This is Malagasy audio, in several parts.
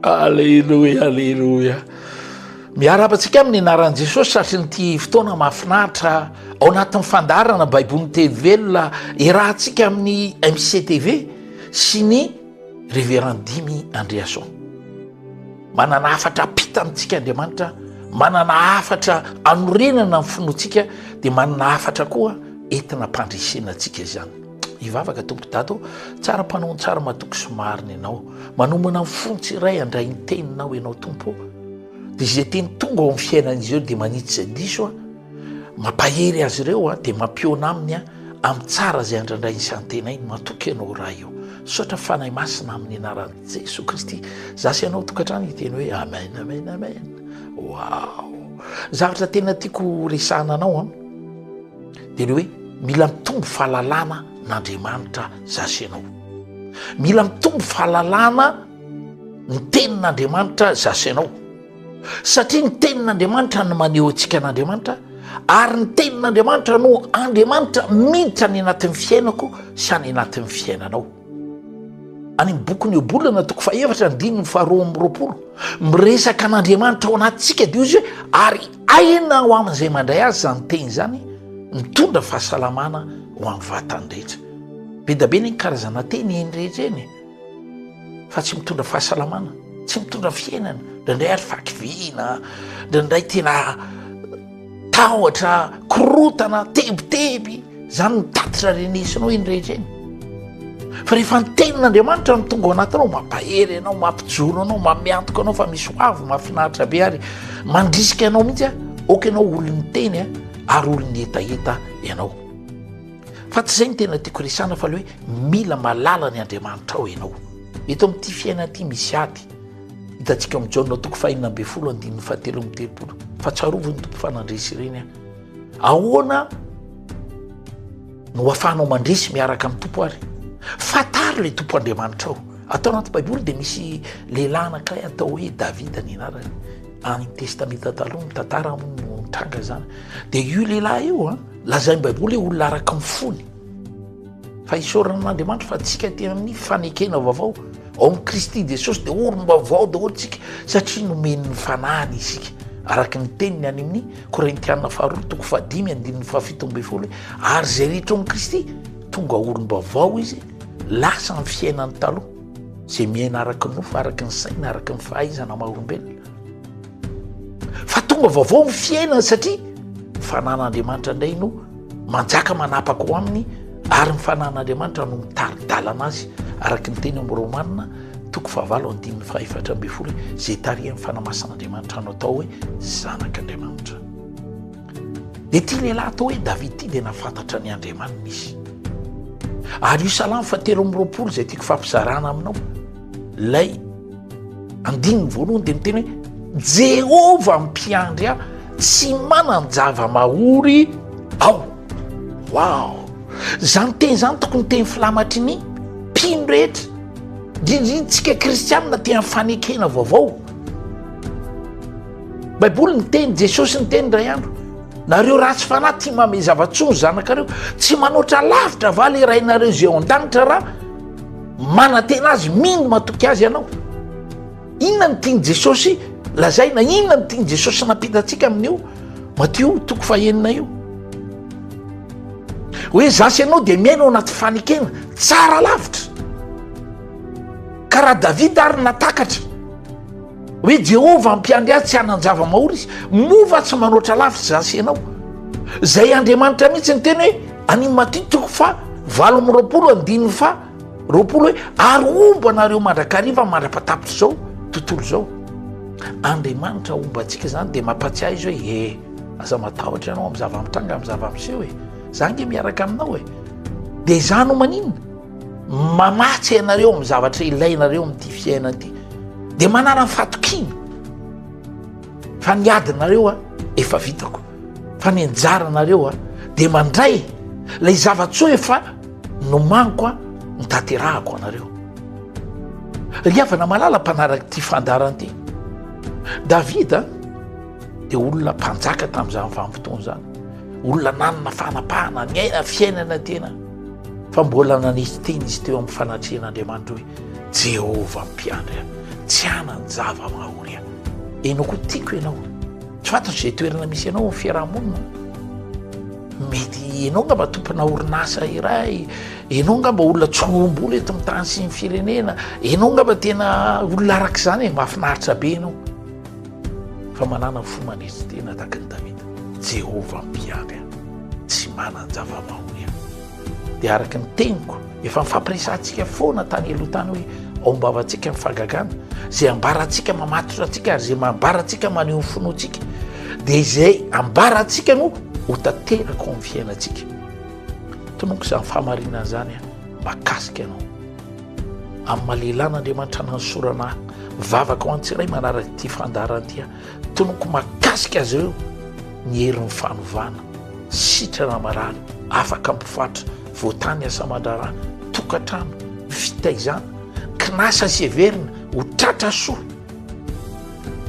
Aleloia aleloia miarahaba antsika amin'ny anaran'i Jesosy satrin'ity fotoana mahafinaritra ao anatin'ny fandaharana baiboly ny teny velona iarahantsika amin'ny MCTV sy ny Révérend Dimy Andriason manana hafatra apita amintsika Andriamanitra manana hafatra anorenana ny finoantsika dia manana hafatra koa entina ampandresena antsika izany Hivavaka Tompo Dato tsara mpanao tsara matoky sy marina ianao manomana ny fony tsy iray andray ny teninao ianao Tompo dia izay teny tonga ao amin'ny fiainan'izy ireo dia manitsy izay diso a mampahery azy ireo a dia mampiona aminy a amin'ny tsara izay andrandray ny santenay ny matoky ianao raha io sotra fanay masina amin'ny anaran'i Jesoa Kristy za sy ianao tokantrano hiteny hoe amen amen amen wow zavatra tena tiako resahana anao a Dia ny hoe mila mitombo fahalalana n'Andriamanitra za sy ianao. Mila mitombo fahalalana ny tenin'Andriamanitra za sy ianao. Satria ny tenin'Andriamanitra no maneho antsika an'Andriamanitra ary ny tenin'Andriamanitra no Andriamanitra miditra any anatin'ny fiainako sy any anatin'ny fiainanao. Any amin'ny bokin'i Iobola na toko fahefatra andininy faharoa amby roapolo, miresaka an'Andriamanitra ao anatintsika dia izy hoe ary aina ho amin'izay mandray azy izany teny izany, mitondra fahasalamana ho amin'ny vatany rehetra. Be dia be ny karazana teny eny rehetra eny fa tsy mitondra fahasalamana, tsy mitondra fiainana, indraindray ary fakiviana, indraindray tena Tahotra korotana tebiteby zany ny tatitra renesinao iny rehetra iny fa rehefa ny tenin'andriamanitra no tonga ao anatinao mampahery anao mampijoro anao mamiantoka anao fa misy hoavy mahafinaritra be ary mandrisika anao mihitsy a ok ianao olon'ny teny a ary olon'ny hetaheta ianao fa tsy zay ny tena tiako resana fa le hoe mila malala ny andriamanitra ao ianao eto am'ty fiaina ty misy ady Hitantsika ao amin'ny Jaona toko fahenina ambin'ny folo andininy fahatelo amin'ny telopolo fa tsarovy ny tompo fa nandresy ireny aho. Ahoana no afahanao mandresy miaraka amin'ny tompo ary? Fataro ilay tompo Andriamanitrao. Atao anaty baiboly dia misy lehilahy anankiray atao hoe Davida ny anarany. Any testamenta taloha ny tantara aminy no nitranga izany. Dia io lehilahy io a, lazain'ny baiboly hoe olona araka ny fony. Fa isaorana an'Andriamanitra fa antsika aty amin'ny fanekena vaovao ao amin'i Kristy Jesosy dia olom-baovao daholo isika satria nomen'ny fanahiny isika. Araka ny teniny any amin'ny Korintiana faharoa toko fahadimy andininy fahafito ambin'ny folo ary izay rehetra ao amin'i Kristy tonga olom-baovao izy lasa amin'ny fiainany taloha izay miaina araka ny nofo, araka ny saina, araka ny fahaizana maha olombelona. Fa tonga vaovao ny fiainany satria ny fanan'Andriamanitra indray no manjaka manapaka ho aminy ary ny fanan'Andriamanitra no mitari-dalana azy araka ny teny amin'ny Romana toko fahavalo andininy fahefatra ambin'ny folo izay tarihan'ny fanamasan'Andriamanitra no atao hoe zanak'Andriamanitra. Dia ity lehilahy atao hoe Davida ity dia nafantatra ny Andriamaniny izy. Ary io salamo fa telo amby roapolo izay tiako fampizarana aminao. Ilay andininy voalohany dia miteny hoe Jehovah mpiandry ahy, tsy manan-java-mahory aho. Wow! Izany teny izany tokony teny filamatry ny mpino rehetra, indrindra intsika kristianina te amin'ny fanekena vaovao. Baiboly niteny, Jesosy niteny indray andro, nareo ratsy fanahy tia mame zava-tsoa ny zanakareo, tsy manoatra lavitra va le Rainareo izay ao an-danitra raha Manantena azy, mino matoky azy ianao. Inona no tian'i Jesosy lazaina? Inona no tian'i Jesosy nampita antsika amin'io Matio toko fahenina io? Hoe za sy ianao dia miaina ao anaty fanekena tsara lavitra. Ka raha Davida ary natakatra hoe Jehovah ampiandry ahy tsy hanan-java-mahory izy, moa va tsy manoatra lavitra za sy ianao? Izay Andriamanitra mihitsy ny teny hoe Any Maty toko fa valo amby roapolo andininy fa roapolo hoe ary homba anareo mandrakariva mandrapatapitr' izao tontolo izao. Andriamanitra homba antsika izany dia mampatsiahy izy hoe e aza matahotra ianao amin'ny zava-mitranga amin'ny zava-miseho e za nge miaraka aminao e dia izaho no maninona mamatsy ianareo amin'ny zavatra ilainareo amin'ity fiainana ity dia manana ny fatokiana fa ny adinareo a efa vitako. Fa ny anjaranareo dia mandray ilay zava-tsoa efa nomaniko notanterahako anareo. Ry havana malala mpanaraka ity fandaharana ity, Davida dia olona mpanjaka tamin'izany vanim-potoana izany, olona nanana fanapahana, niaina fiainana tena fa mbola nanisy teny izy teo amin'ny fanatrehan'Andriamanitra hoe Jehovah mpiandry ahy, tsy hanan-java-mahory ahy. Ianao koa tiako ianao. Tsy fantatro izay toerana misy anao amin'ny fiarahamonina. Mety ianao angamba tompona orinasa iray, ianao angamba olona tsy ombolo eto amin'ny tany sy ny firenena, ianao angamba tena olona araka izany e, mahafinaritra be ianao. Fa manana fo manetry tena tahaka ny Davida. Jehovah mpiady ahy, tsy manan-java-mahaory aho. Dia araka ny teniko, efa nifampiresahantsika foana tany aloha tany hoe ao am-bavantsika ny fagagana, izay ambarantsika mamatotra antsika ary izay mambarantsika maneho ny finoantsika, dia izay ambarantsika no ho tanteraka ao amin'ny fiainantsika. Tononiko izany fahamarinana izany aho, makasika anao. Amin'ny maha lehilahy an'Andriamanitra nanosorana ahy, mivavaka ho an'ny tsiray manaraka ity fandaharana ity aho. Tononkò mahakasika azy ireo ny herin'ny fanovana, sitrana marary, afaka mpifatra, voatany asa aman-draharaha, tokantrano, fitaizana, kinasa sy heverina ho tratra soa.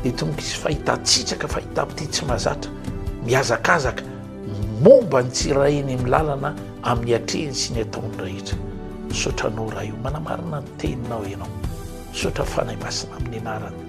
Dia tononkò hisy fahitan-tsitraka, fahitam-pitia tsy mahazatra, mihazakazaka momba ny tsirairay eny amin'ny lalana amin'ny hatrehiny sy ny ataony rehetra. Misaotra anao Ray o, manamarina ny teninao ianao. Misaotra Fanahy Masina amin'ny anarany.